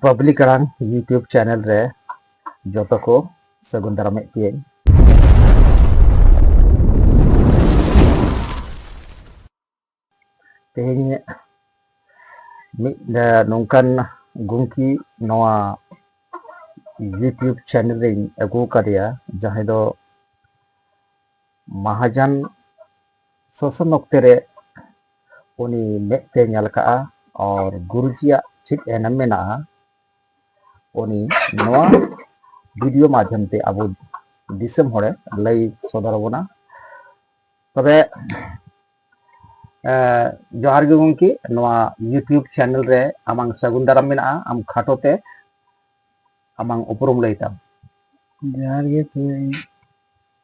Public ᱟᱲᱟᱝ YouTube channel ᱨᱮ ᱡᱚᱛᱚ ᱠᱚ ᱥᱟᱹᱜᱩᱱ ᱫᱟᱨᱟᱢᱮᱫ ᱯᱮᱭᱟᱹᱧ ᱛᱮᱦᱮᱧ ᱢᱤᱫ ᱱᱚᱝᱠᱟᱱ ᱜᱚᱢᱠᱮ ᱱᱚᱣᱟ ᱤᱭᱩᱴᱤᱭᱩᱵᱽ ᱪᱮᱱᱮᱞ ᱨᱮᱧ ᱟᱹᱜᱩ ᱟᱠᱟᱫᱮᱭᱟ ᱡᱟᱦᱟᱸᱭ ᱫᱚ ᱢᱟᱦᱟᱡᱟᱱ ᱥᱚᱥᱚᱱ ᱚᱠᱛᱮ ᱨᱮ ᱩᱱᱤ ᱢᱮᱫ ᱛᱮ ᱧᱮᱞ ᱟᱠᱟᱫᱼᱟ ᱟᱨ ᱜᱩᱨᱩᱡᱤᱭᱟᱜ ᱪᱮᱫ ᱮᱱᱮᱢ ᱢᱮᱱᱟᱜᱼᱟ ᱩᱱᱤ ᱱᱚᱣᱟ ᱵᱷᱤᱰᱤᱭᱳ ᱢᱟᱫᱽᱫᱷᱚᱢ ᱛᱮ ᱟᱵᱚ ᱫᱤᱥᱚᱢ ᱦᱚᱲᱮ ᱞᱟᱹᱭ ᱥᱚᱫᱚᱨ ᱟᱵᱚᱱᱟ ᱛᱚᱵᱮ ᱡᱚᱦᱟᱨ ᱜᱮ ᱜᱚᱢᱠᱮ ᱱᱚᱣᱟ ᱤᱭᱩᱴᱤᱭᱩᱵᱽ ᱪᱮᱱᱮᱞ ᱨᱮ ᱟᱢᱟᱝ ᱥᱟᱹᱜᱩᱱ ᱫᱟᱨᱟᱢ ᱢᱮᱱᱟᱜᱼᱟ ᱟᱢ ᱠᱷᱟᱴᱚ ᱛᱮ ᱟᱢᱟᱝ ᱩᱯᱨᱩᱢ ᱞᱟᱹᱭ ᱛᱟᱢ ᱡᱚᱦᱟᱨ ᱜᱮ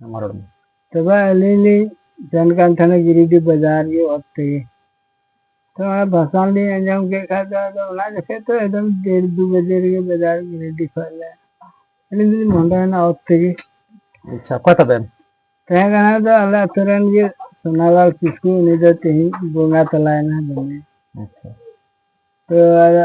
ᱦᱮᱢᱟᱨᱚᱢ ᱛᱚᱵᱮ ᱟᱹᱞᱤᱧ ᱞᱤᱧ ᱥᱮᱱ ᱠᱟᱱ ᱛᱟᱦᱮᱱᱟ ᱜᱤᱨᱤᱰᱤ ᱵᱟᱡᱟᱨ ᱜᱮ ᱚᱛ ᱛᱮᱜᱮ ᱛᱚ ᱚᱱᱟ ᱵᱷᱟᱥᱟᱱ ᱞᱤᱧ ᱟᱸᱡᱚᱢ ᱠᱮᱫ ᱠᱷᱟᱡ ᱫᱚ ᱟᱫᱚ ᱚᱱᱟ ᱡᱚᱠᱷᱮᱡ ᱛᱚ ᱮᱠᱫᱚᱢ ᱰᱮᱲ ᱫᱩ ᱵᱟᱡᱮ ᱨᱮᱜᱮ ᱵᱟᱡᱟᱨ ᱜᱤᱨᱤᱰᱤ ᱠᱷᱚᱡ ᱞᱮ ᱟᱹᱞᱤᱧ ᱫᱚᱞᱤᱧ ᱢᱚᱦᱰᱟᱭᱮᱱᱟ ᱚᱛ ᱛᱮᱜᱮ ᱟᱪᱪᱷᱟ ᱚᱠᱚᱭ ᱛᱟᱵᱮᱱ ᱛᱟᱦᱮᱸ ᱠᱟᱱᱟ ᱫᱚ ᱟᱞᱮ ᱟᱛᱳ ᱨᱮᱱ ᱜᱮ ᱥᱳᱱᱟᱞᱟᱞ ᱠᱤᱥᱠᱩ ᱩᱱᱤ ᱫᱚ ᱛᱮᱦᱮᱧ ᱵᱚᱸᱜᱟ ᱛᱟᱞᱟᱭᱮᱱᱟ ᱫᱚᱢᱮ ᱟᱪᱪᱷᱟ ᱛᱚ ᱟᱫᱚ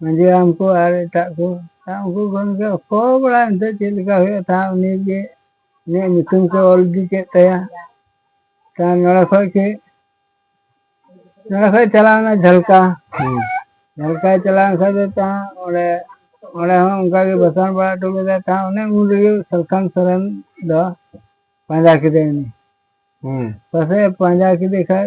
ᱢᱟᱺᱡᱷᱤ ᱦᱟᱲᱟᱢ ᱠᱚ ᱟᱨ ᱮᱴᱟᱜ ᱠᱚ ᱩᱱᱠᱩ ᱠᱷᱚᱱ ᱜᱮ ᱚᱠᱚ ᱵᱟᱲᱟᱭ ᱮᱱᱛᱮᱫ ᱪᱮᱫ ᱞᱮᱠᱟ ᱦᱩᱭᱩᱜᱼᱟ ᱛᱟ ᱩᱱᱤ ᱜᱮ ᱩᱱᱤᱭᱟᱜ ᱧᱩᱛᱩᱢ ᱠᱚ ᱚᱞ ᱤᱫᱤ ᱠᱮᱫ ᱛᱟᱭᱟ ᱛᱟ ᱱᱚᱰᱮ ᱠᱷᱚᱡ ᱜᱮ ᱱᱚᱰᱮ ᱠᱷᱚᱡ ᱪᱟᱞᱟᱣᱱᱟ ᱡᱷᱟᱞᱠᱟ ᱡᱷᱟᱞᱠᱟᱭ ᱪᱟᱞᱟᱣᱮᱱ ᱠᱷᱟᱡ ᱫᱚ ᱛᱟ ᱚᱸᱰᱮ ᱚᱸᱰᱮ ᱦᱚᱸ ᱚᱱᱠᱟ ᱜᱮ ᱵᱟᱥᱟᱱ ᱵᱟᱲᱟ ᱦᱚᱴᱚ ᱠᱮᱫᱟ ᱛᱟ ᱚᱱᱮ ᱩᱱ ᱨᱮᱜᱮ ᱥᱟᱞᱠᱷᱟᱱ ᱥᱚᱨᱮᱱ ᱫᱚ ᱯᱟᱸᱡᱟ ᱠᱮᱫᱮ ᱩᱱᱤ ᱯᱟᱥᱮᱡ ᱯᱟᱸᱡᱟ ᱠᱮᱫᱮ ᱠᱷᱟᱡ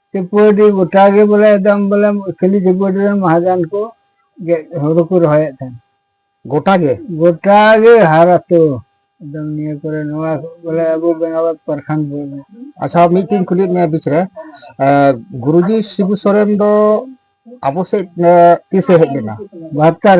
ᱛᱨᱤᱯᱩᱨᱟᱰᱤ ᱜᱚᱴᱟ ᱜᱮ ᱵᱚᱞᱮ ᱮᱠᱫᱚᱢ ᱵᱚᱞᱮ ᱠᱷᱟᱹᱞᱤ ᱛᱨᱤᱯᱩᱨᱟᱰᱤ ᱨᱮᱱ ᱢᱟᱦᱟᱡᱟᱱ ᱠᱚ ᱦᱩᱲᱩ ᱠᱚ ᱨᱚᱦᱚᱭᱮᱫ ᱛᱟᱦᱮᱱ ᱜᱚᱴᱟ ᱜᱮ ᱜᱚᱴᱟ ᱜᱮ ᱦᱟᱨᱟᱛᱚ ᱮᱠᱫᱚᱢ ᱱᱤᱭᱟᱹ ᱠᱚᱨᱮ ᱱᱚᱣᱟ ᱵᱚᱞᱮ ᱟᱵᱚ ᱵᱮᱝᱜᱟᱞᱳᱨ ᱯᱨᱚᱠᱷᱚᱸᱰ ᱵᱚᱞᱮ ᱟᱪᱪᱷᱟ ᱢᱤᱫᱴᱮᱱ ᱠᱩᱞᱤ ᱢᱮ ᱵᱤᱪ ᱨᱮ ᱜᱩᱨᱩᱡᱤ ᱥᱤᱵᱩ ᱥᱚᱨᱮᱱ ᱫᱚ ᱟᱵᱚ ᱥᱮᱫ ᱛᱤᱥᱮ ᱦᱮᱡ ᱞᱮᱱᱟ ᱵᱟᱦᱟᱛᱛᱚᱨ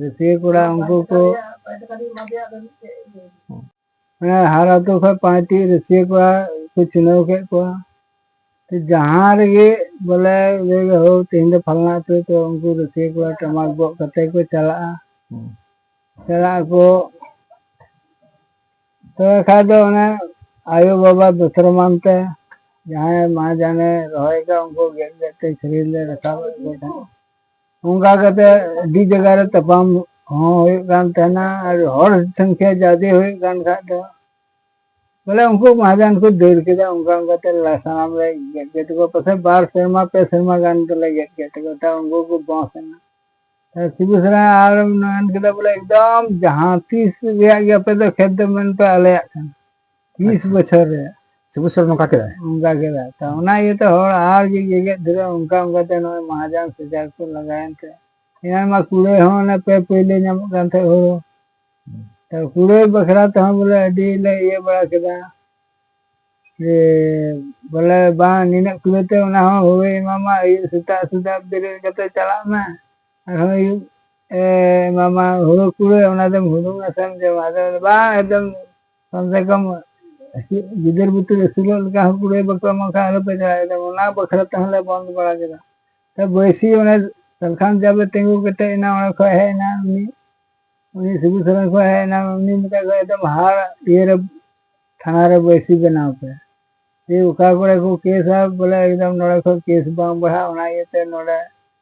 ᱨᱟᱹᱥᱤᱭᱟᱹ ᱠᱚᱲᱟ ᱩᱱᱠᱩ ᱠᱚ ᱦᱮᱸ ᱦᱟᱨ ᱟᱛᱳ ᱠᱷᱚᱱ ᱯᱟᱸᱪᱴᱤ ᱨᱟᱹᱥᱤᱭᱟᱹ ᱠᱚᱲᱟ ᱠᱚ ᱪᱩᱱᱟᱹᱣ ᱠᱮᱫ ᱠᱚᱣᱟ ᱛᱚ ᱡᱟᱦᱟᱸ ᱨᱮᱜᱮ ᱵᱚᱞᱮ ᱞᱟᱹᱭ ᱦᱳ ᱛᱮᱦᱮᱧ ᱫᱚ ᱯᱷᱟᱞᱱᱟ ᱟᱛᱳ ᱛᱚ ᱩᱱᱠᱩ ᱨᱟᱹᱥᱤᱭᱟᱹ ᱠᱚᱲᱟ ᱴᱟᱢᱟᱠ ᱜᱚᱜ ᱠᱟᱛᱮ ᱠᱚ ᱪᱟᱞᱟᱜᱼᱟ ᱪᱟᱞᱟᱜ ᱟᱠᱚ ᱛᱚᱵᱮ ᱠᱷᱟᱡ ᱫᱚ ᱚᱱᱮ ᱟᱭᱳ ᱵᱟᱵᱟ ᱫᱚᱥᱨᱟ ᱢᱟᱱ ᱛᱮ ᱡᱟᱦᱟᱸᱭ ᱢᱟ ᱡᱟᱱᱮ ᱨᱚᱦᱚᱭ ᱠᱟᱜ ᱩᱱᱠᱩ ᱜᱮᱫ ᱜᱮᱫ ᱛᱮ ᱥᱮᱨᱮᱧ ᱞᱮ ᱨᱟᱠᱟᱵ ᱮᱫ ᱠᱚ ᱛᱟᱦᱮᱸᱫ ᱚᱱᱠᱟ ᱠᱟᱛᱮ ᱟᱹᱰᱤ ᱡᱟᱭᱜᱟ ᱨᱮ ᱛᱟᱯᱟᱢ ᱦᱚᱸ ᱦᱩᱭᱩᱜ ᱠᱟᱱ ᱛᱟᱦᱮᱱᱟ ᱟᱨ ᱦᱚᱲ ᱥᱚᱝᱠᱷᱭᱟ ᱡᱟᱫᱮ ᱦᱩᱭᱩᱜ ᱠᱟᱱ ᱠᱷᱟᱡ ᱫᱚ ᱵᱚᱞᱮ ᱩᱱᱠᱩ ᱢᱟᱦᱟᱡᱟᱱ ᱠᱚ ᱫᱟᱹᱲ ᱠᱮᱫᱟ ᱚᱱᱠᱟ ᱚᱱᱠᱟ ᱛᱮ ᱥᱟᱱᱟᱢ ᱞᱮ ᱜᱮᱫ ᱠᱮᱫ ᱛᱟᱠᱚᱣᱟ ᱯᱟᱥᱮᱡ ᱵᱟᱨ ᱥᱮᱨᱢᱟ ᱯᱮ ᱥᱮᱨᱢᱟ ᱜᱟᱱ ᱫᱚᱞᱮ ᱜᱮᱫ ᱠᱮᱫ ᱛᱟᱠᱚᱣᱟ ᱛᱟᱣ ᱩᱱᱠᱩ ᱠᱚ ᱵᱚᱸᱥ ᱮᱱᱟ ᱥᱤᱵᱩ ᱥᱚᱨᱮᱱ ᱟᱨ ᱢᱮᱱ ᱠᱮᱫᱟ ᱵᱚᱞᱮ ᱮᱠᱫᱚᱢ ᱡᱟᱦᱟᱸ ᱛᱤᱥ ᱨᱮᱭᱟᱜ ᱜᱮ ᱟᱯᱮ ᱫᱚ ᱠᱷᱮᱛ ᱫᱚ ᱢᱮᱱ ᱯᱮ ᱟᱞᱮᱭᱟᱜ ᱠᱟᱱᱟ ᱛᱤᱥ ᱟᱪᱪᱷᱟ᱾ ᱵᱚᱪᱷᱚᱨ ᱨᱮ ᱥᱮ ᱵᱚᱪᱷᱚᱨ ᱱᱚᱝᱠᱟ ᱠᱮᱫᱟᱭ ᱚᱱᱠᱟ ᱠᱮᱫᱟ ᱛᱚ ᱚᱱᱟ ᱤᱭᱟᱹᱛᱮ ᱦᱚᱲ ᱟᱨ ᱜᱮ ᱜᱮᱜᱮᱫ ᱫᱷᱩᱨᱟᱹᱣ ᱚᱱᱠᱟ ᱚᱱᱠᱟᱛᱮ ᱱᱚᱜᱼᱚᱭ ᱢᱟᱦᱟᱡᱚᱱ ᱥᱮᱡᱟᱨ ᱠᱚ ᱞᱟᱜᱟᱣᱮᱱ ᱛᱮ ᱮᱱᱟᱱ ᱢᱟ ᱠᱩᱲᱟᱹᱭ ᱦᱚᱸ ᱚᱱᱮ ᱯᱮ ᱯᱟᱹᱭᱞᱟᱹ ᱧᱟᱢᱚᱜ ᱠᱟᱱ ᱛᱟᱦᱮᱸᱫ ᱦᱩᱲᱩ ᱛᱚ ᱠᱩᱲᱟᱹᱭ ᱵᱟᱠᱷᱨᱟ ᱛᱮᱦᱚᱸ ᱵᱚᱞᱮ ᱟᱹᱰᱤ ᱞᱮ ᱤᱭᱟᱹ ᱵᱟᱲᱟ ᱠᱮᱫᱟ ᱡᱮ ᱵᱚᱞᱮ ᱵᱟᱝ ᱱᱤᱱᱟᱹᱜ ᱠᱩᱲᱟᱹᱭ ᱛᱮ ᱚᱱᱟ ᱦᱚᱸ ᱦᱩᱲᱩᱭ ᱮᱢᱟᱢᱟ ᱟᱹᱭᱩᱵ ᱥᱮᱛᱟᱜ ᱥᱮᱛᱟᱜ ᱵᱮᱨᱮᱫ ᱠᱟᱛᱮ ᱪᱟᱞᱟᱜ ᱢᱮ ᱟᱨᱦᱚᱸ ᱟᱹᱭᱩᱵ ᱮ ᱮᱢᱟᱢᱟ ᱦᱩᱲᱩ ᱠᱩᱲᱟᱹᱭ ᱚᱱᱟ ᱫᱚᱢ ᱦᱩᱲᱩᱝ ᱟᱥᱮᱢ ᱡᱚᱢᱟ ᱟᱫᱚ ᱵᱟᱝ ᱮᱠᱫᱚᱢ ᱠᱚᱢ ᱥᱮ ᱠᱚᱢ ᱜᱤᱫᱟᱹᱨ ᱵᱩᱛᱟᱹᱨ ᱟᱹᱥᱩᱞᱚᱜ ᱞᱮᱠᱟ ᱦᱚᱸ ᱠᱩᱲᱟᱹᱭ ᱵᱟᱠᱚ ᱮᱢᱚᱜ ᱠᱷᱟᱱ ᱟᱞᱚᱯᱮ ᱪᱟᱞᱟᱜᱼᱟ ᱚᱱᱟ ᱵᱟᱠᱷᱨᱟ ᱛᱮᱦᱚᱸ ᱞᱮ ᱵᱚᱱᱫ ᱵᱟᱲᱟ ᱠᱮᱫᱟ ᱛᱚ ᱵᱟᱹᱭᱥᱤ ᱚᱱᱮ ᱥᱟᱞᱠᱷᱟᱱ ᱡᱟᱵᱮ ᱛᱤᱸᱜᱩ ᱠᱮᱴᱮᱡ ᱮᱱᱟ ᱚᱸᱰᱮ ᱠᱷᱚᱡ ᱦᱮᱡ ᱮᱱᱟ ᱩᱱᱤ ᱩᱱᱤ ᱥᱤᱵᱩ ᱥᱚᱨᱮᱱ ᱠᱷᱚᱡ ᱦᱮᱡ ᱮᱱᱟ ᱩᱱᱤ ᱢᱮᱛᱟᱭ ᱠᱚ ᱮᱠᱫᱚᱢ ᱦᱟᱲ ᱤᱭᱟᱹᱨᱮ ᱛᱷᱟᱱᱟ ᱨᱮ ᱵᱟᱹᱭᱥᱤ ᱵᱮᱱᱟᱣ ᱯᱮ ᱡᱮ ᱚᱠᱟ ᱠᱚᱨᱮ ᱠᱚ ᱠᱮᱥᱟ ᱵᱚᱞᱮ ᱮᱠᱫᱚᱢ ᱱᱚᱰᱮ ᱠᱷᱚᱡ ᱠᱮᱥ ᱵᱟᱝ ᱵᱟᱲᱦᱟᱜ ᱚᱱᱟ ᱤᱭᱟᱹᱛᱮ ᱱᱚᱰᱮ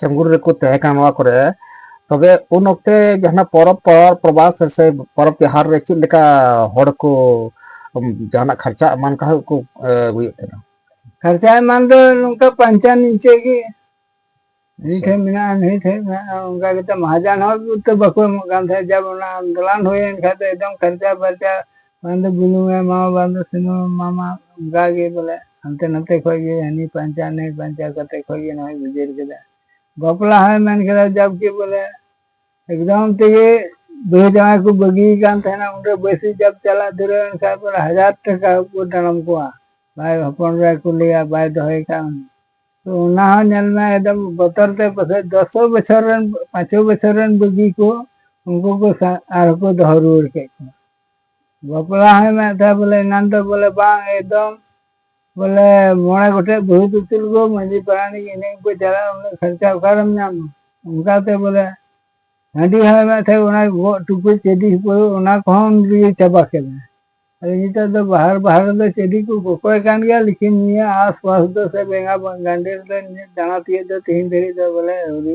ᱪᱟᱝᱜᱩᱨ ᱨᱮᱠᱚ ᱛᱟᱦᱮᱸ ᱠᱟᱱᱟ ᱱᱚᱣᱟ ᱠᱚᱨᱮ ᱛᱚᱵᱮ ᱩᱱ ᱚᱠᱛᱮ ᱡᱟᱦᱟᱱᱟᱜ ᱯᱚᱨᱚᱵᱽ ᱯᱨᱚᱵᱟᱥ ᱥᱮ ᱯᱚᱨᱚᱵᱽ ᱛᱮᱦᱟᱨ ᱨᱮ ᱪᱮᱫ ᱞᱮᱠᱟ ᱦᱚᱲ ᱠᱚ ᱡᱟᱦᱟᱱᱟᱜ ᱠᱷᱚᱨᱪᱟ ᱮᱢᱟᱱ ᱠᱚ ᱠᱚ ᱦᱩᱭᱩᱜ ᱠᱟᱱᱟ ᱠᱷᱚᱨᱪᱟ ᱮᱢᱟᱱ ᱫᱚ ᱱᱚᱝᱠᱟ ᱯᱟᱧᱪᱟ ᱱᱤᱪᱮ ᱜᱮ ᱱᱤ ᱴᱷᱮᱱ ᱢᱮᱱᱟᱜᱼᱟ ᱱᱤ ᱴᱷᱮᱱ ᱢᱮᱱᱟᱜᱼᱟ ᱚᱱᱠᱟ ᱠᱟᱛᱮ ᱢᱟᱦᱟᱡᱟᱱ ᱦᱚᱸ ᱛᱚ ᱵᱟᱠᱚ ᱮᱢᱚᱜ ᱠᱟᱱ ᱛᱟᱦᱮᱸᱫ ᱡᱟᱵ ᱚᱱᱟ ᱟᱱᱫᱳᱞᱚᱱ ᱦᱩᱭᱮᱱ ᱠᱷᱟᱱ ᱫᱚ ᱮᱠᱫᱚᱢ ᱠᱷᱚᱨᱪᱟ ᱯᱷᱚᱨᱪᱟ ᱵᱟᱝ ᱫᱚ ᱵᱩᱞᱩᱝ ᱮ ᱮᱢᱟᱢᱟ ᱵᱟᱝ ᱫᱚ ᱥᱩᱱᱩᱢ ᱮ ᱮᱢᱟᱢᱟ ᱚᱱᱠᱟ ᱜᱮ ᱵᱚᱞᱮ ᱦᱟᱱᱛᱮ ᱱᱟᱛᱮ ᱠᱷᱚᱡ ᱜᱮ ᱦᱟᱹᱱᱤ ᱯᱟᱧᱪᱟᱣ ᱱᱟᱹᱭ ᱯᱟᱧᱪᱟᱣ ᱠᱟᱛᱮ ᱠᱷᱚᱡ ᱜᱮ ᱱᱚᱜᱼᱚᱭ ᱜᱩᱡᱟᱹᱨ ᱠᱮᱫᱟ ᱵᱟᱯᱞᱟ ᱦᱚᱸᱭ ᱢᱮᱱ ᱠᱮᱫᱟ ᱡᱟᱵᱠᱤ ᱵᱚᱞᱮ ᱮᱠᱫᱚᱢ ᱛᱮᱜᱮ ᱵᱟᱹᱦᱩ ᱡᱟᱶᱟᱭ ᱠᱚ ᱵᱟᱹᱜᱤ ᱠᱟᱱ ᱛᱟᱦᱮᱱᱟ ᱩᱱᱨᱮ ᱵᱟᱹᱥᱤ ᱡᱟᱵ ᱪᱟᱞᱟᱜ ᱫᱷᱩᱨᱟᱹᱣ ᱮᱱ ᱠᱷᱟᱡ ᱵᱚᱞᱮ ᱦᱟᱡᱟᱨ ᱴᱟᱠᱟ ᱠᱚ ᱰᱟᱲᱚᱢ ᱠᱚᱣᱟ ᱵᱟᱭ ᱦᱚᱯᱚᱱ ᱨᱮ ᱠᱚ ᱞᱟᱹᱭᱟ ᱵᱟᱭ ᱫᱚᱦᱚᱭ ᱠᱟᱱ ᱛᱚ ᱚᱱᱟ ᱦᱚᱸ ᱧᱮᱞ ᱢᱮ ᱮᱠᱫᱚᱢ ᱵᱚᱛᱚᱨ ᱛᱮ ᱯᱟᱥᱮᱡ ᱫᱚᱥᱚ ᱵᱚᱪᱷᱚᱨ ᱨᱮᱱ ᱯᱟᱸᱪᱚ ᱵᱚᱪᱷᱚᱨ ᱨᱮᱱ ᱵᱟᱹᱜᱤ ᱠᱚ ᱩᱱᱠᱩ ᱠᱚ ᱟᱨᱦᱚᱸ ᱠᱚ ᱫᱚᱦᱚ ᱨᱩᱣᱟᱹᱲ ᱠᱮᱫ ᱠᱚᱣᱟ ᱵᱟᱯᱞᱟ ᱦᱚᱸᱭ ᱢᱮᱱᱮᱫ ᱛᱟᱦᱮᱸᱫ ᱵᱚᱞᱮ ᱮᱱᱟᱱ ᱫᱚ ᱵᱚᱞᱮ ᱵᱟᱝ ᱮᱠᱫᱚᱢ ᱵᱚᱞᱮ ᱢᱚᱬᱮ ᱜᱚᱴᱮᱡ ᱵᱟᱹᱦᱩ ᱫᱤᱯᱤᱞ ᱜᱚ ᱢᱟᱺᱡᱷᱤ ᱯᱟᱨᱟᱱᱤᱠ ᱮᱱᱮᱡ ᱠᱚ ᱪᱟᱞᱟᱜᱼᱟ ᱩᱱᱟᱹᱜ ᱠᱷᱚᱨᱪᱟ ᱚᱠᱟᱨᱮᱢ ᱧᱟᱢᱟ ᱚᱱᱠᱟᱛᱮ ᱵᱚᱞᱮ ᱦᱟᱺᱰᱤ ᱦᱚᱸᱭ ᱢᱮᱱᱮᱫ ᱛᱟᱦᱮᱸᱫ ᱚᱱᱟ ᱜᱚᱜ ᱴᱩᱠᱩᱡ ᱪᱮᱰᱤ ᱦᱩᱯᱟᱹᱲᱩ ᱚᱱᱟ ᱠᱚᱦᱚᱸ ᱩᱱᱤᱜᱮ ᱪᱟᱵᱟ ᱠᱮᱫᱟ ᱟᱫᱚ ᱱᱤᱛᱚᱜ ᱫᱚ ᱵᱟᱦᱟᱨ ᱵᱟᱦᱟᱨ ᱨᱮᱫᱚ ᱪᱮᱰᱤ ᱠᱚ ᱠᱚᱠᱚᱭ ᱠᱟᱱ ᱜᱮᱭᱟ ᱞᱮᱠᱤᱱ ᱱᱤᱭᱟᱹ ᱟᱥᱯᱟᱥ ᱫᱚ ᱥᱮ ᱵᱮᱸᱜᱟ ᱜᱟᱱᱰᱮ ᱨᱮᱫᱚ ᱫᱟᱬᱟ ᱛᱤᱭᱳᱜ ᱫᱚ ᱛᱮᱦᱮᱧ ᱫᱷᱟᱹᱨᱤᱡ ᱫᱚ ᱵᱚᱞᱮ ᱟᱹᱣᱨᱤ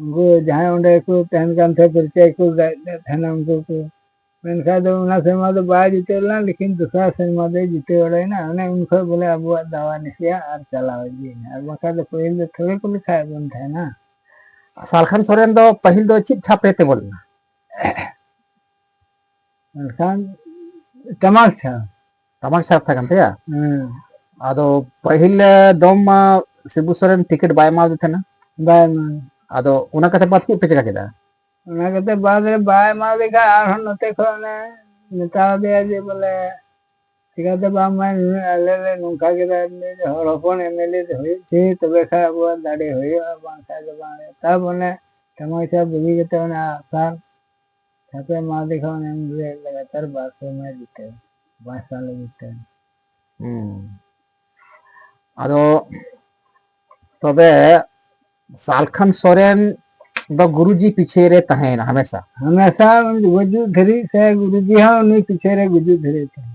ᱩᱱᱠᱩ ᱡᱟᱦᱟᱸᱭ ᱚᱸᱰᱮ ᱠᱚ ᱛᱟᱦᱮᱱ ᱠᱟᱱ ᱛᱟᱦᱮᱸᱫ ᱯᱚᱨᱤᱪᱚᱭ ᱠᱚ ᱜᱟᱜ ᱮᱫ ᱛᱟᱦᱮᱱᱟ ᱩᱱᱠᱩ ᱠᱚ ᱢᱮᱱᱠᱷᱟᱱ ᱫᱚ ᱚᱱᱟ ᱥᱮᱨᱢᱟ ᱫᱚ ᱵᱟᱭ ᱡᱤᱛᱟᱹᱣ ᱞᱮᱱᱟ ᱞᱮᱠᱤᱱ ᱫᱚᱥᱟᱨ ᱥᱮᱨᱢᱟ ᱫᱚᱭ ᱡᱤᱛᱟᱹᱣ ᱵᱟᱲᱟᱭᱮᱱᱟ ᱚᱱᱮ ᱩᱱ ᱠᱷᱚᱱ ᱵᱚᱞᱮ ᱟᱵᱚᱣᱟᱜ ᱫᱟᱣᱟ ᱱᱤᱥᱤᱭᱟ ᱟᱨ ᱪᱟᱞᱟᱣ ᱤᱫᱤᱭᱮᱱᱟ ᱟᱨ ᱵᱟᱝᱠᱷᱟᱱ ᱫᱚ ᱯᱟᱹᱦᱤᱞ ᱫᱚ ᱛᱷᱚᱲᱮ ᱠᱚ ᱞᱮᱠᱷᱟᱭᱮᱫ ᱵᱚᱱ ᱛᱟᱦᱮᱱᱟ ᱥᱟᱞᱠᱷᱟᱱ ᱥᱚᱨᱮᱱ ᱫᱚ ᱯᱟᱹᱦᱤᱞ ᱫᱚ ᱪᱮᱫ ᱪᱷᱟᱯ ᱨᱮ ᱛᱤᱸᱜᱩ ᱞᱮᱱᱟ ᱢᱮᱱᱠᱷᱟᱱ ᱴᱟᱢᱟᱠ ᱪᱷᱟᱯ ᱥᱟᱢᱟᱝ ᱥᱟᱨ ᱛᱟᱦᱮᱸ ᱠᱟᱱ ᱛᱟᱭᱟ ᱦᱮᱸ ᱟᱫᱚ ᱯᱟᱹᱦᱤᱞ ᱫᱚᱢ ᱢᱟ ᱥᱤᱵᱩ ᱥᱚᱨᱮᱱ ᱴᱤᱠᱤᱴ ᱵᱟᱭ ᱮᱢᱟᱣᱟᱫᱮ ᱛᱟᱦᱮᱱᱟ ᱵᱟᱭ ᱢᱟ ᱟᱫᱚ ᱚᱱᱟ ᱠᱟᱛᱮ ᱵᱟᱫ ᱪᱮᱫ ᱯᱮ ᱪᱮᱠᱟ ᱠᱮᱫᱟ ᱚᱱᱟ ᱠᱟᱛᱮ ᱵᱟᱫ ᱨᱮ ᱵᱟᱭ ᱮᱢᱟᱣᱟᱫᱮ ᱠᱷᱟᱱ ᱟᱨᱦᱚᱸ ᱱᱚᱛᱮ ᱠᱷᱚᱱ ᱚᱱᱮ ᱢᱮᱛᱟᱣᱟᱫᱮᱭᱟ ᱡᱮ ᱵᱚᱞᱮ ᱪᱤᱠᱟᱛᱮ ᱵᱟᱢ ᱢᱟ ᱱᱩᱱᱟᱹᱜ ᱟᱞᱮ ᱞᱮ ᱱᱚᱝᱠᱟ ᱠᱮᱫᱟ ᱦᱚᱲ ᱦᱚᱯᱚᱱ ᱮᱢᱮᱞᱮ ᱦᱩᱭᱩᱜ ᱪᱮ ᱛᱚᱵᱮ ᱠᱷᱟᱱ ᱟᱵᱚᱣᱟᱜ ᱫᱟᱲᱮ ᱦᱩᱭᱩᱜᱼᱟ ᱵᱟᱝᱠᱷᱟᱱ ᱫᱚ ᱵᱟᱝ ᱛᱟᱵ ᱚᱱᱮ ᱥᱟᱢᱟᱝ ᱥᱟᱨ ᱵᱩᱜᱤ ᱠᱟᱛᱮ ᱚᱱᱟ ᱟᱜᱼᱥᱟᱨ ᱛᱟᱯᱚᱨᱮ ᱢᱟ ᱫᱮᱠᱷᱟᱣ ᱮᱢ ᱜᱮ ᱞᱟᱜᱟᱛᱟᱨ ᱵᱟᱨ ᱥᱮᱨᱢᱟ ᱡᱤᱛᱟᱹᱣ ᱵᱟᱨ ᱥᱟᱞ ᱡᱤᱛᱟᱹᱣ ᱟᱫᱚ ᱛᱚᱵᱮ ᱥᱟᱞᱠᱷᱟᱱ ᱥᱚᱨᱮᱱ ᱫᱚ ᱜᱩᱨᱩᱡᱤ ᱯᱤᱪᱷᱮ ᱨᱮ ᱛᱟᱦᱮᱸᱭᱮᱱᱟ ᱦᱟᱢᱮᱥᱟ ᱦᱟᱢᱮᱥᱟ ᱜᱩᱡᱩᱜ ᱫᱷᱟᱹᱨᱤᱡ ᱥᱮ ᱜᱩᱨᱩᱡᱤ ᱦᱚᱸ ᱩᱱᱤ ᱯᱤᱪᱷᱮ ᱨᱮ ᱜᱩᱡᱩᱜ ᱫᱷᱟᱹᱨᱤᱡ ᱛᱟᱦᱮᱸ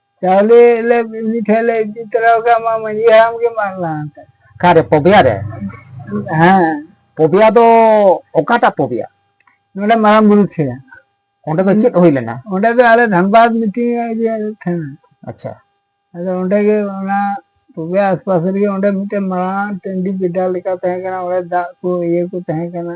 ᱪᱟᱣᱞᱮ ᱞᱮ ᱩᱱᱤ ᱴᱷᱮᱱ ᱞᱮ ᱤᱫᱤ ᱛᱚᱨᱟ ᱟᱠᱟᱫ ᱢᱟ ᱢᱟᱺᱡᱷᱤ ᱦᱟᱲᱟᱢ ᱜᱮ ᱢᱟᱜ ᱞᱟᱦᱟ ᱠᱟᱜ ᱚᱠᱟᱨᱮ ᱯᱚᱵᱮᱭᱟ ᱨᱮ ᱦᱮᱸ ᱯᱚᱵᱮᱭᱟ ᱫᱚ ᱚᱠᱟᱴᱟᱜ ᱯᱚᱵᱮᱭᱟ ᱱᱚᱰᱮ ᱢᱟᱨᱟᱝ ᱵᱩᱨᱩ ᱴᱷᱮᱱ ᱚᱸᱰᱮ ᱫᱚ ᱪᱮᱫ ᱦᱩᱭ ᱞᱮᱱᱟ ᱚᱸᱰᱮ ᱫᱚ ᱟᱞᱮ ᱫᱷᱟᱱᱵᱟᱫᱽ ᱢᱤᱴᱤᱝ ᱤᱭᱟᱹ ᱴᱷᱮᱱ ᱟᱪᱪᱷᱟ ᱟᱫᱚ ᱚᱸᱰᱮ ᱜᱮ ᱚᱱᱟ ᱯᱚᱵᱮ ᱟᱥᱯᱟᱥ ᱨᱮᱜᱮ ᱚᱸᱰᱮ ᱢᱤᱫᱴᱮᱱ ᱢᱟᱨᱟᱝ ᱴᱟᱺᱰᱤ ᱵᱮᱰᱟ ᱞᱮᱠᱟ ᱛᱟᱦᱮᱸ ᱠᱟᱱᱟ ᱚᱸᱰᱮ ᱫᱟᱜ ᱠᱚ ᱤᱭᱟᱹ ᱠᱚ ᱛᱟᱦᱮᱸ ᱠᱟᱱᱟ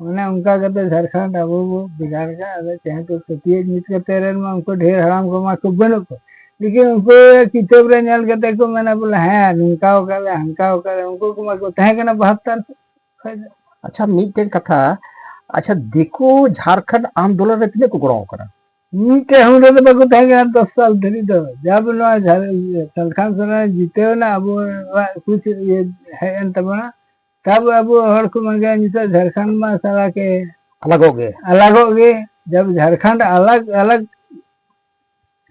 ᱚᱱᱮ ᱚᱱᱠᱟ ᱠᱟᱛᱮ ᱡᱷᱟᱲᱠᱷᱚᱸᱰ ᱟᱵᱚ ᱵᱚ ᱵᱷᱮᱜᱟᱨ ᱠᱟᱜ ᱟᱫᱚ ᱪᱮᱦᱮᱸ ᱠᱚ ᱯᱟᱹᱛᱭᱟᱹᱜ ᱧᱩᱛ ᱠᱟᱛᱮ ᱨᱮᱱ ᱢᱟ ᱩᱱᱠᱩ ᱰᱷᱮᱨ ᱦᱟᱲᱟᱢ ᱠᱚᱢᱟ ᱠᱚ ᱵᱟᱹᱱᱩᱜ ᱠᱚ ᱞᱮᱠᱤᱱ ᱩᱱᱠᱩ ᱠᱤᱛᱟᱹᱵ ᱨᱮ ᱧᱮᱞ ᱠᱟᱛᱮ ᱠᱚ ᱢᱮᱱᱟ ᱵᱚᱞᱮ ᱦᱮᱸ ᱱᱚᱝᱠᱟ ᱟᱠᱟᱫ ᱞᱮ ᱦᱟᱱᱠᱟ ᱟᱠᱟᱫ ᱞᱮ ᱩᱱᱠᱩ ᱠᱚᱢᱟ ᱠᱚ ᱛᱟᱦᱮᱸ ᱠᱟᱱᱟ ᱵᱟᱦᱟᱛᱛᱟᱨ ᱠᱷᱚᱡ ᱫᱚ ᱟᱪᱪᱷᱟ ᱢᱤᱫᱴᱮᱱ ᱠᱟᱛᱷᱟ ᱟᱪᱪᱷᱟ ᱫᱤᱠᱩ ᱡᱷᱟᱲᱠᱷᱚᱸᱰ ᱟᱱᱫᱳᱞᱚᱱ ᱨᱮ ᱛᱤᱱᱟᱹᱜ ᱠᱚ ᱜᱚᱲᱚ ᱟᱠᱟᱱᱟ ᱢᱤᱫᱴᱮᱡ ᱦᱚᱸ ᱨᱮᱫᱚ ᱵᱟᱠᱚ ᱛᱟᱦᱮᱸ ᱠᱟᱱᱟ ᱫᱚᱥ ᱥᱟᱞ ᱫᱷᱟᱹᱨᱤᱡ ᱫᱚ ᱡᱟᱵ ᱱᱚᱣᱟ ᱡᱷᱟᱲᱠᱷᱚᱸᱰ ᱥᱚᱨᱠᱟᱨ ᱡᱤᱛᱟᱹᱣ ᱮᱱᱟ ᱟᱵᱚᱣᱟᱜ ᱠᱩᱪ ᱤᱭᱟᱹ ᱦᱮᱡ ᱮᱱ ᱛᱟᱵᱚᱱᱟ ᱛᱟᱵ ᱟᱵᱚ ᱦᱚᱲ ᱠᱚ ᱢᱟᱜᱮ ᱱᱤᱛᱚᱜ ᱡᱷᱟᱲᱠᱷᱚᱸᱰ ᱢᱟ ᱥᱟᱞᱟ ᱠᱮ ᱟᱞᱟᱜᱚᱜ ᱜᱮ ᱟᱞᱟᱜᱚᱜ ᱜᱮ ᱡᱟᱵ ᱡᱷᱟᱲᱠᱷᱚᱸᱰ ᱟᱞᱟᱜ ᱟᱞᱟᱜ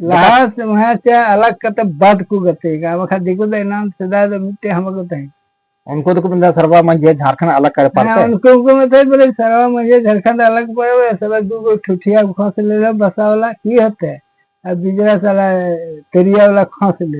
ᱞᱟᱦᱟ ᱥᱮᱢᱦᱟ ᱪᱟ ᱟᱞᱟᱜ ᱠᱟᱛᱮ ᱵᱟᱫ ᱠᱚ ᱜᱟᱛᱮ ᱜᱟ ᱵᱟᱠᱷᱟ ᱫᱤᱠᱩ ᱫᱚ ᱮᱱᱟᱱ ᱥᱮᱫᱟᱭ ᱫᱚ ᱢᱤᱫᱴᱮ ᱦᱟᱢᱟ ᱠᱚ ᱛᱟᱦᱮᱸ ᱩᱱᱠᱩ ᱫᱚᱠᱚ ᱢᱮᱱᱫᱟ ᱥᱟᱨᱵᱟ ᱢᱟᱹᱡᱷᱤ ᱡᱷᱟᱲᱠᱷᱚᱸᱰ ᱟᱞᱟᱜ ᱠᱟᱨᱮ ᱯᱟᱨᱛᱮ ᱩᱱᱠᱩ ᱠᱚ ᱢᱮᱛᱟᱭ ᱵᱚᱞᱮ ᱥᱟᱨᱵᱟ ᱢᱟᱹᱡᱷᱤ ᱡᱷᱟᱲᱠᱷᱚᱸᱰ ᱟᱞᱟᱜ ᱯᱟᱨᱮ ᱥᱟᱞᱟ ᱫᱩ ᱜᱚ ᱴᱷᱩᱴᱷᱤᱭᱟ ᱠᱷᱚᱥ ᱞᱮ ᱵᱟᱥᱟᱣᱞᱟ ᱠᱤ ᱦᱚᱛᱮ ᱟᱨ ᱵᱤᱡᱨᱟ ᱥᱟᱞᱟ ᱛᱮᱨᱤᱭᱟᱣᱞᱟ ᱠᱷᱚᱥ ᱞᱮ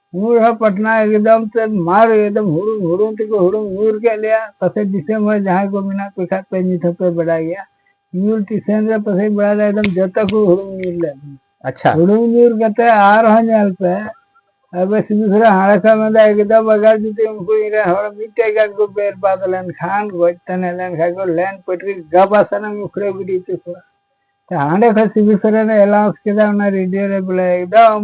ᱧᱩᱨ ᱦᱚᱸ ᱯᱟᱴᱱᱟ ᱮᱠᱫᱚᱢ ᱛᱮ ᱢᱟᱨ ᱮᱠᱫᱚᱢ ᱦᱩᱲᱩᱝ ᱦᱩᱲᱩᱝ ᱛᱮᱠᱚ ᱦᱩᱲᱩᱝ ᱧᱩᱨ ᱠᱮᱫ ᱞᱮᱭᱟ ᱯᱟᱥᱮᱡ ᱫᱤᱥᱚᱢ ᱦᱚᱲ ᱡᱟᱦᱟᱸᱭ ᱠᱚ ᱢᱮᱱᱟᱜ ᱯᱮ ᱠᱷᱟᱡ ᱯᱮ ᱱᱤᱛ ᱦᱚᱸᱯᱮ ᱵᱟᱰᱟᱭ ᱜᱮᱭᱟ ᱧᱩᱨ ᱴᱤᱥᱮᱱ ᱨᱮ ᱯᱟᱥᱮᱡ ᱵᱟᱲᱟᱭ ᱫᱟ ᱮᱠᱫᱚᱢ ᱡᱚᱛᱚ ᱠᱚ ᱦᱩᱲᱩᱝ ᱧᱩᱨ ᱞᱮᱫ ᱟᱪᱪᱷᱟ ᱦᱩᱲᱩᱝ ᱧᱩᱨ ᱠᱟᱛᱮ ᱟᱨᱦᱚᱸ ᱧᱮᱞ ᱯᱮ ᱟᱵᱮ ᱥᱤᱵᱤ ᱥᱚᱨᱮ ᱦᱟᱲᱮ ᱠᱷᱚᱱ ᱢᱮᱱᱫᱟ ᱮᱠᱫᱚᱢ ᱟᱜᱟᱨ ᱡᱩᱫᱤ ᱩᱱᱠᱩ ᱤᱧ ᱨᱮᱱ ᱦᱚᱲ ᱢᱤᱫᱴᱮᱡ ᱜᱟᱱ ᱠᱚ ᱵᱮᱨ ᱵᱟᱫ ᱞᱮᱱᱠᱷᱟᱱ ᱜᱚᱡ ᱛᱟᱱᱮ ᱞᱮᱱᱠᱷᱟᱱ ᱠᱚ ᱞᱮᱱ ᱯᱟᱹᱴᱨᱤ ᱜᱟᱵᱟ ᱥᱟᱱᱟᱢ ᱩᱠᱷᱲᱟᱹ ᱜᱤᱰᱤ ᱦᱚᱪᱚ ᱠᱚᱣᱟ ᱦᱟᱸᱰᱮ ᱠᱷᱚᱱ ᱥᱤᱵᱤ ᱥᱚᱨᱮᱱᱮ ᱮᱞᱟᱣᱩᱱᱥ ᱠᱮᱫᱟ ᱚᱱᱟ ᱨᱮᱰᱤᱭᱳ ᱨᱮ ᱵᱚᱞᱮ ᱮᱠᱫᱚᱢ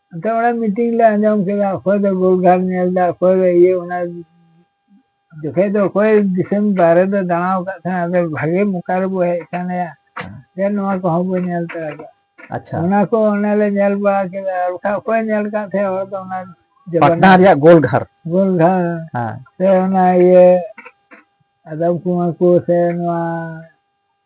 ᱟᱫᱚ ᱚᱱᱟ ᱢᱤᱴᱤᱝ ᱞᱮ ᱟᱸᱡᱚᱢ ᱠᱮᱫᱟ ᱚᱠᱚᱭ ᱫᱚ ᱜᱳᱞᱜᱷᱟᱴ ᱧᱮᱞ ᱮᱫᱟ ᱚᱠᱚᱭ ᱫᱚ ᱤᱭᱟᱹ ᱚᱱᱟ ᱡᱚᱠᱷᱮᱡ ᱫᱚ ᱚᱠᱚᱭ ᱫᱤᱥᱚᱢ ᱵᱟᱨᱦᱮ ᱫᱚ ᱫᱟᱬᱟ ᱟᱠᱟᱫ ᱛᱟᱦᱮᱸ ᱟᱫᱚ ᱵᱷᱟᱜᱮ ᱢᱚᱠᱟ ᱨᱮᱵᱚ ᱦᱮᱡ ᱟᱠᱟᱱ ᱭᱟ ᱡᱮ ᱱᱚᱣᱟ ᱠᱚᱦᱚᱸ ᱵᱚ ᱧᱮᱞ ᱛᱚᱨᱟ ᱠᱟᱜᱼᱟ ᱟᱪᱪᱷᱟ ᱚᱱᱟ ᱠᱚ ᱚᱱᱮ ᱞᱮ ᱧᱮᱞ ᱵᱟᱲᱟ ᱠᱮᱫᱟ ᱟᱨ ᱵᱟᱠᱷᱟᱡ ᱚᱠᱚᱭ ᱧᱮᱞ ᱟᱠᱟᱫ ᱛᱟᱦᱮᱸ ᱦᱚᱲ ᱫᱚ ᱚᱱᱟ ᱯᱟᱴᱱᱟ ᱨᱮᱭᱟᱜ ᱜᱳᱞᱜᱷᱟᱨ ᱜᱳᱞᱜᱷᱟᱨ ᱥᱮ ᱚᱱᱟ ᱤᱭᱟᱹ ᱟᱫᱚᱢ ᱠᱩᱢᱟᱨ ᱠᱚ ᱥᱮ ᱱᱚᱣᱟ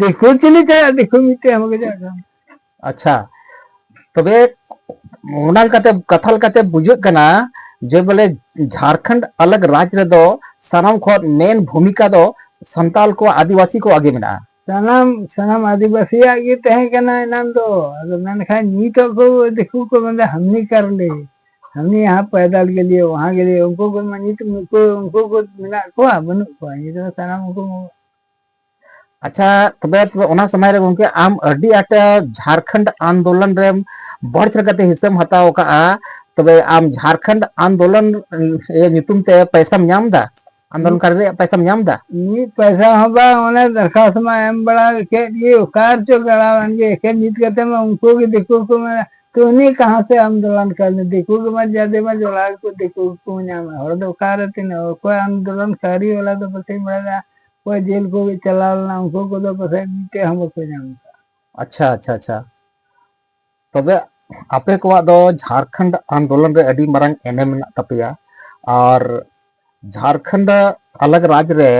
ᱫᱤᱠᱩ ᱪᱤᱞᱤ ᱠᱟᱭᱟ ᱫᱤᱠᱩ ᱢᱤᱫᱴᱮᱡ ᱮᱢ ᱜᱮᱡᱟ ᱟᱪᱪᱷᱟ ᱛᱚᱵᱮ ᱚᱱᱟ ᱞᱮᱠᱟᱛᱮ ᱠᱟᱛᱷᱟ ᱞᱮᱠᱟᱛᱮ ᱵᱩᱡᱷᱟᱹᱜ ᱠᱟᱱᱟ ᱡᱮ ᱵᱚᱞᱮ ᱡᱷᱟᱨᱠᱷᱚᱸᱰ ᱟᱞᱟᱜ ᱨᱟᱡᱽ ᱨᱮᱫᱚ ᱥᱟᱱᱟᱢ ᱠᱷᱚᱱ ᱢᱮᱱ ᱵᱷᱩᱢᱤᱠᱟ ᱫᱚ ᱥᱟᱱᱛᱟᱞ ᱠᱚ ᱟᱹᱫᱤᱵᱟᱹᱥᱤ ᱠᱚ ᱟᱜᱮ ᱢᱮᱱᱟᱜᱼᱟ ᱥᱟᱱᱟᱢ ᱥᱟᱱᱟᱢ ᱟᱹᱫᱤᱵᱟᱹᱥᱤᱭᱟᱜ ᱜᱮ ᱛᱟᱦᱮᱸ ᱠᱟᱱᱟ ᱮᱱᱟᱱ ᱫᱚ ᱟᱫᱚ ᱢᱮᱱᱠᱷᱟᱱ ᱱᱤᱛᱚᱜ ᱠᱚ ᱫᱤᱠᱩ ᱠᱚ ᱢᱮᱱᱫᱟ ᱦᱟᱢᱱᱤ ᱠᱟᱨ ᱞᱮ ᱦᱟᱢᱱᱤ ᱭᱟᱦᱟᱸ ᱯᱟᱭᱫᱟᱞ ᱜᱮ ᱞᱤᱭᱮ ᱣᱟᱦᱟᱸ ᱜᱮ ᱞᱤᱭᱮ ᱩᱱᱠᱩ ᱠᱚ ᱢᱟ ᱱᱤᱛ ᱩᱱᱠᱩ ᱩᱱᱠᱩ ᱠᱚ ᱢᱮᱱᱟᱜ ᱠᱚᱣᱟ ᱵᱟᱹᱱᱩᱜ ᱠᱚᱣᱟ ᱱᱤᱛ ᱫᱚ ᱥᱟᱱᱟᱢ ᱩᱱᱠᱩ ᱟᱪᱪᱷᱟ ᱛᱚᱵᱮ ᱚᱱᱟ ᱥᱚᱢᱚᱭ ᱨᱮ ᱜᱚᱝᱠᱮ ᱟᱢ ᱟᱹᱰᱤ ᱟᱸᱴ ᱡᱷᱟᱨᱠᱷᱚᱸᱰ ᱟᱱᱫᱳᱞᱚᱱ ᱨᱮ ᱵᱚᱲ ᱪᱮᱫ ᱠᱟᱛᱮ ᱦᱤᱥᱟᱹᱢ ᱦᱟᱛᱟᱣ ᱠᱟᱜᱼᱟ ᱛᱚᱵᱮ ᱟᱢ ᱡᱷᱟᱨᱠᱷᱚᱸᱰ ᱟᱱᱫᱳᱞᱚᱱ ᱧᱩᱛᱩᱢ ᱛᱮ ᱯᱚᱭᱥᱟᱢ ᱧᱟᱢ ᱫᱟ ᱟᱱᱫᱳᱞᱚᱱ ᱠᱟᱨ ᱨᱮᱭᱟᱜ ᱯᱚᱭᱥᱟᱢ ᱧᱟᱢ ᱫᱟ ᱢᱤᱫ ᱯᱚᱭᱥᱟ ᱦᱚᱸ ᱵᱟᱝ ᱚᱱᱮ ᱫᱚᱨᱠᱷᱟᱥᱛ ᱢᱟ ᱮᱢ ᱵᱟᱲᱟ ᱠᱮᱫ ᱜᱮ ᱚᱠᱟᱨ ᱪᱚ ᱜᱟᱲᱟᱣᱟᱱ ᱜᱮ ᱮᱠᱮᱱ ᱱᱤᱛ ᱠᱟᱛᱮ ᱢᱟ ᱩᱱᱠᱩ ᱜᱮ ᱫᱤᱠᱩ ᱠᱚ ᱢᱮᱱᱟ ᱛᱚ ᱩᱱᱤ ᱠᱟᱦᱟᱸ ᱥᱮ ᱟᱱᱫᱳᱞᱚᱱ ᱠᱟᱨ ᱫᱤᱠᱩ ᱜᱮ ᱢᱟ ᱡᱟᱫᱮ ᱢᱟ ᱡᱚᱲᱟ ᱠᱚ ᱫᱤᱠᱩ ᱠᱚ ᱧᱟᱢᱟ ᱦᱚᱲ ᱫᱚ ᱚᱠᱟᱨᱮ ᱛᱤᱱᱟᱹᱜ ᱚᱠᱚᱭ ᱟᱱᱫᱳᱞᱚᱱ ᱠᱟᱹᱨᱤ ᱚᱱᱟ ᱫᱚ ᱵᱟᱹᱧ ᱵᱟᱲᱟᱭᱟ ᱚᱠᱚᱭ ᱡᱮᱞ ᱠᱚ ᱪᱟᱞᱟᱣ ᱞᱮᱱᱟ ᱩᱱᱠᱩ ᱠᱚᱫᱚ ᱯᱟᱥᱮᱡ ᱢᱤᱫᱴᱮᱡ ᱦᱚᱸ ᱵᱟᱠᱚ ᱧᱟᱢ ᱠᱟᱜᱼᱟ ᱟᱪᱪᱷᱟ ᱟᱪᱪᱷᱟ ᱟᱪᱪᱷᱟ ᱛᱚᱵᱮ ᱟᱯᱮ ᱠᱚᱣᱟᱜ ᱫᱚ ᱡᱷᱟᱲᱠᱷᱚᱸᱰ ᱟᱱᱫᱳᱞᱚᱱ ᱨᱮ ᱟᱹᱰᱤ ᱢᱟᱨᱟᱝ ᱮᱱᱮᱢ ᱢᱮᱱᱟᱜ ᱛᱟᱯᱮᱭᱟ ᱟᱨ ᱡᱷᱟᱲᱠᱷᱚᱸᱰ ᱟᱞᱟᱜ ᱨᱟᱡᱽ ᱨᱮ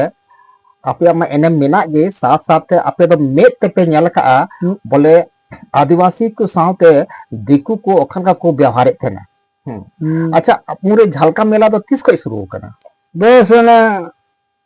ᱟᱯᱮᱭᱟᱜ ᱢᱟ ᱮᱱᱮᱢ ᱢᱮᱱᱟᱜ ᱜᱮ ᱥᱟᱛ ᱥᱟᱛᱮ ᱟᱯᱮ ᱫᱚ ᱢᱮᱫ ᱛᱮᱯᱮ ᱧᱮᱞ ᱠᱟᱜᱼᱟ ᱵᱚᱞᱮ ᱟᱹᱫᱤᱵᱟᱹᱥᱤ ᱠᱚ ᱥᱟᱶᱛᱮ ᱫᱤᱠᱩ ᱠᱚ ᱚᱠᱟ ᱞᱮᱠᱟ ᱠᱚ ᱵᱮᱣᱦᱟᱨᱮᱫ ᱛᱟᱦᱮᱱᱟ ᱟᱪᱪᱷᱟ ᱟᱯᱩᱨᱮ ᱡᱷᱟᱞᱠᱟ ᱢᱮᱞᱟ ᱫᱚ ᱛᱤᱥ ᱠᱷᱚᱱ ᱥᱩᱨᱩ ᱟᱠᱟᱱᱟ ᱵᱮᱥ ᱚᱱᱟ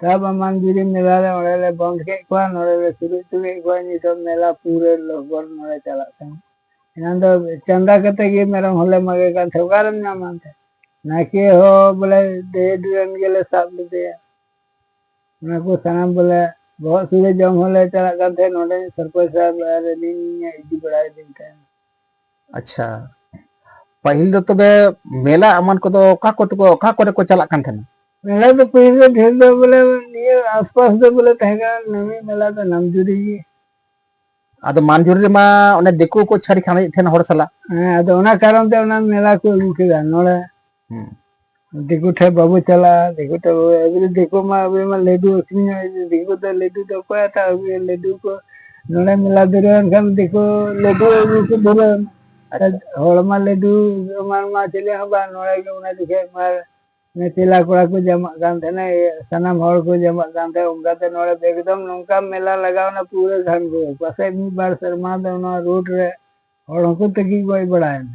ᱛᱟᱵ ᱟᱢᱟᱱ ᱡᱩᱨᱤ ᱢᱮᱞᱟ ᱞᱮ ᱚᱸᱰᱮ ᱞᱮ ᱵᱚᱱᱫᱷ ᱠᱮᱫ ᱠᱚᱣᱟ ᱱᱚᱰᱮ ᱞᱮ ᱥᱩᱨᱩ ᱦᱚᱪᱚ ᱠᱮᱫ ᱠᱚᱣᱟ ᱱᱤᱛᱚᱜ ᱢᱮᱞᱟ ᱯᱩᱨᱟᱹ ᱞᱚᱦᱜᱚᱨ ᱱᱚᱰᱮ ᱪᱟᱞᱟᱜ ᱠᱟᱱᱟ ᱮᱱᱟᱱ ᱫᱚ ᱪᱟᱸᱫᱟ ᱠᱟᱛᱮ ᱜᱮ ᱢᱮᱨᱚᱢ ᱦᱚᱸᱞᱮ ᱢᱟᱜᱮ ᱠᱟᱱ ᱛᱟᱦᱮᱸ ᱚᱠᱟᱨᱮᱢ ᱧᱟᱢᱟ ᱮᱱᱛᱮ ᱱᱟᱭᱠᱮ ᱦᱚᱸ ᱵᱚᱞᱮ ᱰᱮᱰ ᱨᱮᱱ ᱜᱮᱞᱮ ᱥᱟᱵ ᱞᱮᱫᱮᱭᱟ ᱚᱱᱟ ᱠᱚ ᱥᱟᱱᱟᱢ ᱵᱚᱞᱮ ᱵᱚᱦᱚᱜ ᱥᱩᱨᱮ ᱡᱚᱢ ᱦᱚᱸᱞᱮ ᱪᱟᱞᱟᱜ ᱠᱟᱱ ᱛᱟᱦᱮᱸᱫ ᱱᱚᱰᱮ ᱥᱚᱨᱯᱚᱸᱪ ᱥᱟᱦᱮᱵᱽ ᱟᱨ ᱟᱹᱞᱤᱧ ᱤᱫᱤ ᱵᱟᱲᱟᱭᱮᱫᱤᱧ ᱛᱟᱦᱮᱸᱫ ᱟᱪᱪᱷᱟ ᱯᱟᱹᱦᱤᱞ ᱫᱚ ᱛᱚᱵᱮ ᱢᱮᱞᱟ ᱮᱢᱟᱱ ᱠᱚᱫᱚ ᱚᱠᱟ ᱠᱚ ᱛᱮᱠᱚ ᱚᱠᱟ ᱠᱚᱨᱮ ᱠᱚ ᱪᱟᱞᱟᱜ ᱠᱟᱱ ᱛᱟᱦᱮᱱᱟ ᱢᱮᱞᱟ ᱫᱚ ᱯᱟᱹᱦᱤᱞ ᱫᱚ ᱰᱷᱮᱨ ᱫᱚ ᱵᱚᱞᱮ ᱱᱤᱭᱟᱹ ᱟᱥᱯᱟᱥ ᱫᱚ ᱵᱚᱞᱮ ᱛᱟᱦᱮᱸ ᱠᱟᱱᱟ ᱱᱟᱹᱢᱤ ᱢᱮᱞᱟ ᱫᱚ ᱱᱟᱢᱡᱩᱨᱤ ᱜᱮ ᱟᱫᱚ ᱢᱟᱱᱡᱩᱨᱤ ᱨᱮᱢᱟ ᱚᱱᱮ ᱫᱤᱠᱩ ᱠᱚ ᱪᱷᱟᱹᱲ ᱠᱷᱟᱱᱮᱫ ᱛᱟᱦᱮᱱ ᱦᱚᱲ ᱥᱟᱞᱟᱜ ᱦᱮᱸ ᱟᱫᱚ ᱚᱱᱟ ᱠᱟᱨᱚᱱ ᱛᱮ ᱚᱱᱟ ᱢᱮᱞᱟ ᱠᱚ ᱟᱹᱜᱩ ᱠᱮᱫᱟ ᱱᱚᱰᱮ ᱦᱮᱸ ᱫᱤᱠᱩ ᱴᱷᱮᱡ ᱵᱟᱵᱚ ᱪᱟᱞᱟᱜᱼᱟ ᱫᱤᱠᱩ ᱴᱷᱮᱡ ᱵᱟᱵᱚ ᱮᱵᱟᱨᱮ ᱫᱤᱠᱩ ᱢᱟ ᱟᱵᱚ ᱢᱟ ᱞᱟᱹᱰᱩ ᱟᱹᱠᱷᱨᱤᱧ ᱫᱤᱠᱩ ᱫᱚ ᱞᱟᱹᱰᱩ ᱫᱚ ᱚᱠᱚᱭ ᱦᱟᱛᱟᱣ ᱟᱹᱜᱩᱭᱟ ᱞᱟᱹᱰᱩ ᱠᱚ ᱱᱚᱰᱮ ᱢᱮᱞᱟ ᱫᱩᱨᱟᱹᱣ ᱮᱱᱠᱷᱟᱱ ᱫᱤᱠᱩ ᱞᱟᱹᱰᱩ ᱟᱹᱜᱩ ᱠᱚ ᱫᱷᱩᱨᱟᱹᱣ ᱟᱪᱪᱷᱟ ᱦᱚᱲ ᱢᱟ ᱞᱟᱹᱰᱩ ᱮᱢᱟᱱ ᱢᱟ ᱪᱮᱞᱮ ᱦᱚᱸ ᱵᱟᱝ ᱱᱚᱰᱮ ᱜᱮ ᱚᱱᱟ ᱡᱚᱠᱷᱮᱡ ᱢᱟ ᱪᱮᱞᱟ ᱠᱚᱲᱟ ᱠᱚ ᱡᱟᱢᱟᱜ ᱠᱟᱱ ᱛᱟᱦᱮᱱᱟ ᱥᱟᱱᱟᱢ ᱦᱚᱲ ᱠᱚ ᱡᱟᱢᱟᱜ ᱠᱟᱱ ᱛᱟᱦᱮᱸᱱᱟ ᱚᱱᱠᱟᱛᱮ ᱱᱚᱰᱮ ᱮᱠᱫᱚᱢ ᱱᱚᱝᱠᱟ ᱢᱮᱞᱟ ᱞᱟᱜᱟᱣᱱᱟ ᱯᱩᱨᱟᱹ ᱜᱷᱟᱱᱜᱳᱨ ᱯᱟᱥᱮᱡ ᱢᱤᱫ ᱵᱟᱨ ᱥᱮᱨᱢᱟ ᱫᱚ ᱱᱚᱣᱟ ᱨᱳᱰ ᱨᱮ ᱦᱚᱲ ᱦᱚᱸᱠᱚ ᱛᱟᱹᱠᱤᱡ ᱜᱚᱡ ᱵᱟᱲᱟᱭᱮᱱᱟ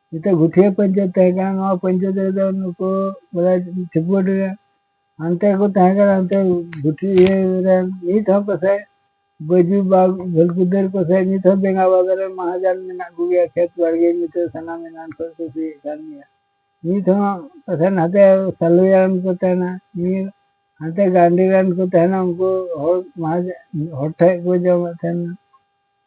ᱱᱤᱛᱚᱜ ᱜᱩᱴᱷᱤᱭᱟᱹ ᱯᱚᱧᱪᱟᱭᱮᱛ ᱛᱟᱦᱮᱸ ᱠᱟᱱᱟ ᱱᱚᱣᱟ ᱯᱚᱧᱪᱟᱭᱮᱛ ᱨᱮᱫᱚ ᱱᱩᱠᱩ ᱵᱚᱞᱮ ᱴᱷᱤᱠᱩᱣᱟᱹᱰ ᱨᱮ ᱦᱟᱱᱛᱮ ᱠᱚ ᱛᱟᱦᱮᱸ ᱠᱟᱱᱟ ᱦᱟᱱᱛᱮ ᱜᱩᱴᱷᱤ ᱤᱭᱟᱹ ᱨᱮ ᱱᱤᱛ ᱦᱚᱸ ᱯᱟᱥᱮᱡ ᱵᱟᱹᱡᱩ ᱵᱟᱜᱽ ᱵᱷᱟᱹᱞᱠᱩᱫᱟᱹᱨ ᱯᱟᱥᱮᱡ ᱱᱤᱛ ᱦᱚᱸ ᱵᱮᱸᱜᱟ ᱵᱟᱜᱽ ᱨᱮ ᱢᱟᱦᱟᱡᱟᱱ ᱢᱮᱱᱟᱜ ᱠᱚᱜᱮᱭᱟ ᱠᱷᱮᱛ ᱵᱟᱲᱜᱮ ᱱᱤᱛᱚᱜ ᱥᱟᱱᱟᱢ ᱮᱱᱟᱱ ᱠᱷᱚᱱ ᱠᱚ ᱥᱤᱭᱮᱫ ᱠᱟᱱ ᱜᱮᱭᱟ ᱱᱤᱛ ᱦᱚᱸ ᱯᱟᱥᱮᱡ ᱱᱟᱛᱮ ᱥᱟᱞᱩᱭᱟᱱ ᱠᱚ ᱛᱟᱦᱮᱱᱟ ᱱᱤᱭᱟᱹ ᱦᱟᱱᱛᱮ ᱜᱟᱱᱰᱤ ᱨᱮᱱ ᱠᱚ ᱛᱟᱦᱮᱱᱟ ᱩᱱᱠᱩ ᱦᱚᱲ ᱢᱟᱦᱟᱡᱚᱱ ᱦᱚᱲ ᱴᱷᱮᱡ ᱠᱚ ᱡᱚᱢᱮᱫ ᱛᱟᱦᱮᱱᱟ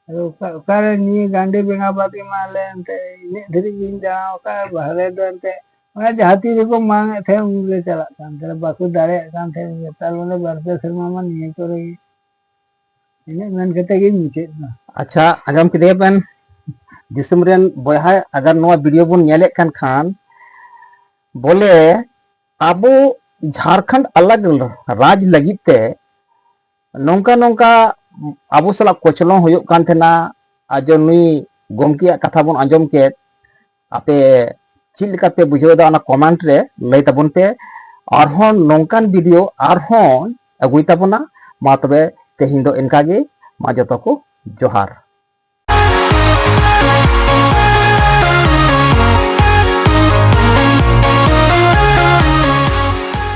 ᱟᱫᱚ ᱚᱠᱟ ᱚᱠᱟᱨᱮ ᱱᱤᱭᱟᱹ ᱜᱟᱱᱰᱮ ᱵᱮᱸᱜᱟ ᱵᱟᱫ ᱮᱢᱟ ᱞᱮ ᱮᱱᱛᱮ ᱤᱱᱟᱹᱜ ᱫᱷᱟᱹᱨᱤᱡ ᱜᱤᱧ ᱫᱟᱬᱟ ᱟᱠᱟᱫ ᱵᱟᱦᱨᱮ ᱫᱚ ᱮᱱᱛᱮ ᱚᱱᱟ ᱡᱟᱦᱟᱸ ᱛᱤ ᱨᱮᱠᱚ ᱢᱟᱝ ᱮᱫ ᱛᱟᱦᱮᱸᱫ ᱩᱱ ᱨᱮ ᱪᱟᱞᱟᱜ ᱠᱟᱱ ᱛᱟᱦᱮᱸᱫ ᱵᱟᱠᱚ ᱫᱟᱲᱮᱭᱟᱜ ᱠᱟᱱ ᱛᱟᱦᱮᱸᱫ ᱱᱮᱛᱟᱨ ᱵᱚᱞᱮ ᱵᱟᱨ ᱯᱮ ᱥᱮᱨᱢᱟ ᱢᱟ ᱱᱤᱭᱟᱹ ᱠᱚᱨᱮ ᱜᱮ ᱤᱱᱟᱹᱜ ᱢᱮᱱ ᱠᱟᱛᱮ ᱜᱤᱧ ᱢᱩᱪᱟᱹᱫ ᱮᱱᱟ ᱟᱪᱪᱷᱟ ᱟᱸᱡᱚᱢ ᱠᱮᱫᱮᱭᱟ ᱵᱮᱱ ᱫᱤᱥᱚᱢ ᱨᱮᱱ ᱵᱚᱭᱦᱟ ᱟᱜᱟᱨ ᱱᱚᱣᱟ ᱵᱷᱤᱰᱤᱭᱳ ᱵᱚᱱ ᱧᱮᱞᱮᱫ ᱠᱟᱱ ᱠᱷᱟᱱ ᱵᱚᱞᱮ ᱟᱵᱚ ᱡᱷᱟᱲᱠᱷᱚᱸᱰ ᱟᱞᱟᱜ ᱨᱟᱡᱽ ᱞᱟᱹᱜᱤᱫ ᱛᱮ ᱱᱚᱝᱠᱟ ᱱᱚᱝᱠᱟ ᱟᱵᱚ ᱥᱟᱞᱟᱜ ᱠᱚᱪᱞᱚᱱ ᱦᱩᱭᱩᱜ ᱠᱟᱱ ᱛᱟᱦᱮᱱᱟ ᱟᱨ ᱡᱚ ᱱᱩᱭ ᱜᱚᱢᱠᱮᱭᱟᱜ ᱠᱟᱛᱷᱟ ᱵᱚᱱ ᱟᱸᱡᱚᱢ ᱠᱮᱫ ᱟᱯᱮ ᱪᱮᱫ ᱞᱮᱠᱟ ᱯᱮ ᱵᱩᱡᱷᱟᱹᱣᱫᱟ ᱚᱱᱟ ᱠᱚᱢᱮᱱᱴ ᱨᱮ ᱞᱟᱹᱭ ᱛᱟᱵᱚᱱ ᱯᱮ ᱟᱨᱦᱚᱸ ᱱᱚᱝᱠᱟᱱ ᱵᱷᱤᱰᱤᱭᱳ ᱟᱨᱦᱚᱸ ᱟᱹᱜᱩᱭ ᱛᱟᱵᱚᱱᱟ ᱢᱟ ᱛᱚᱵᱮ ᱛᱮᱦᱮᱧ ᱫᱚ ᱤᱱᱠᱟ ᱜᱮ ᱢᱟ ᱡᱚᱛᱚ ᱠᱚ ᱡᱚᱦᱟᱨ